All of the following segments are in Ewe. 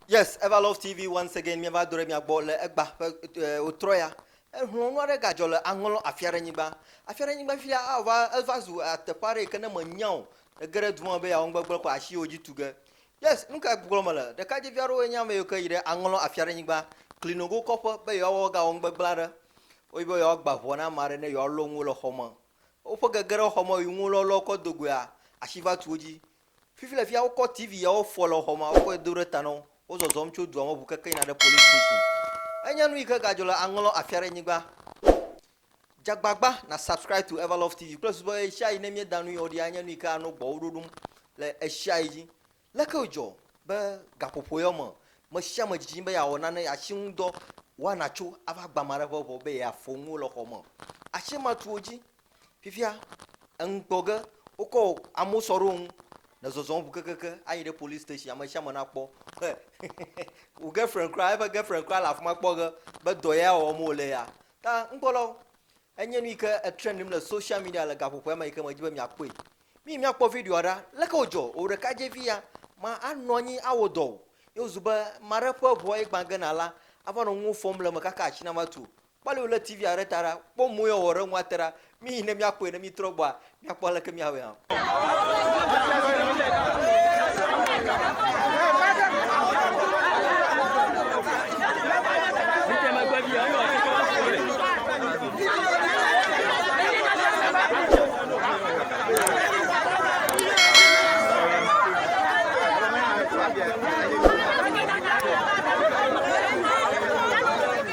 Yes Ever Love TV once again míeva do ɖe mia gbɔ le egba ƒe e, wotrɔ ya ehlɔ̃ nu aɖe gadzɔ le aŋlɔ afi aɖe nyigba afi aɖe nyigba fi ya ava eva zu e, teƒe aɖe yi ke ne mènya o ege ɖe du ma me be yeawɔ gbegblẽ ko asi yewo dzi tu ge yes nu kae gblɔm mele ɖekadzevi aɖewoe nye ame yiwo ke yi ɖe aŋlɔ afi aɖe nyigba klinogo kɔƒe be yewoawɔ gawɔ nu gbegblẽ aɖe woyi be yewoagba ʋɔ na ame aɖe ne yewoalɔ nuwo le xɔ me woƒe gege ɖe xɔ me yi nuwo lɔlɔ kɔ do goea asi va tu wo dzi Fifi le fia wokɔ TV ya wofɔ le xɔ me wokɔ yi do ɖe ta na wo. Wozɔzɔm tso dua me ŋu keke yina ɖe police station. Enye nu yi ke gadzɔ le aŋlɔ afia ɖe nyigba. Dze agbagba na subscribe to Everlove TV kple susu be ɣeshiaɣi ne míeda nu yi ɔɖi anye nu yi ke anɔ gbɔwò ɖoɖom le ɣeshiaɣi dzi. Leke wòdzɔ be gaƒoƒo ya me me sia me dzidzim be yeawɔ nane yeatsi ŋu dɔ wɔna tso ava gbe ame aɖe ƒe ŋɔ be yeafɔ nuwo le xɔ me. Asimatuwo dzi Fifia enu kpɔ ge wokɔ amewo sɔ ɖe wo ŋu le zɔzɔm ŋu kekeke ayi ɖe police station ame sia ame nakpɔ he wò girlfriend kura eƒe girlfriend kura le afi ma kpɔ ge be dɔ ya wɔm wòle ya ta ŋkpɔlɔ enye nu yi ke etrendm le social media le gaƒoƒoa me yi ke medzi be miakpɔe mi miakpɔ videoa ɖa leke wòdzɔ wò ɖekadzevi ya ma anɔ anyi awɔ dɔ o ye wòzu be ame aɖe ƒe ʋua ye gbã gena la ava nɔ nuwo fɔm le eme kaka atsi nava tu o Kpɔ ale wòlé TV-a ɖe ta ɖa. Kpɔ mɔe wòawɔ ɖe eŋu ate ɖa. Míyi ne míakpɔe ne míetrɔ gbɔa, míakpɔ aleke míawɔe hã.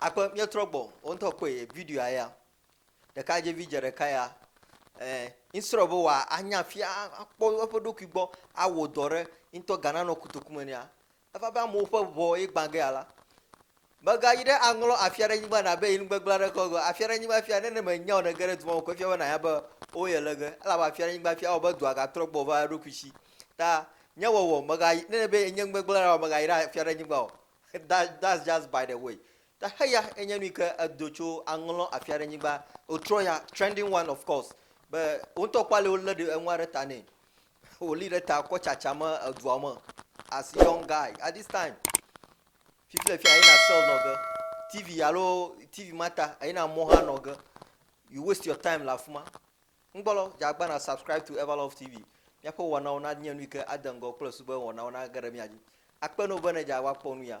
Akpe míetrɔ gbɔ wo ŋutɔ kpɔe videoa ya. Ɖekadzevi dze ɖeka ya eh, instead of be wòanya fia akpɔ eƒe ɖokui gbɔ awɔ dɔ ɖe ŋutɔ Ghana nɔ kotoku me nɛa, Eva be amewo ƒe ʋɔ ye gbã ge alea, megayi ɖe aŋlɔ afi aɖe nyigba na be yi nu gbegblẽ aɖeke o gɔ̃. Afi aɖe nyigba fia, ne ne mènya o, ne ège ɖe du ma me ko efia be nànya be wo ye le ge, elabe afi aɖe nyigba fia, ewɔ be dua gatrɔ gbɔ va eɖokui si. Ta nye wɔwɔ, mègayi, ne ne be enye nu gbegblẽ ɖe wɔ, mègayi ɖe afi aɖe nyigba o. That, that's just by the way. Ta heya enye nu yi ke edo tso aŋlɔ afi aɖe nyigba, wòtrɔ ya, trending one of course, be wo ŋutɔ kpɔ ale wolé ɖe enua ɖe ta nɛ. Wòli ɖe ta kɔ tsatsa me edua me as young guy at this time. Fifi le fia eyina sell nɔ ge. TV alo TV ma ta eyina mɔ hã nɔ ge. You waste your time le afi ma. Ŋgbɔlɔ dzagba na subscribe to Everlove TV. Míaƒe wɔnawo nanye nu yi ke ade ŋgɔ kple su be wɔnawo nage ɖe mía dzi. Akpe no be ne dza woakpɔ nu ya.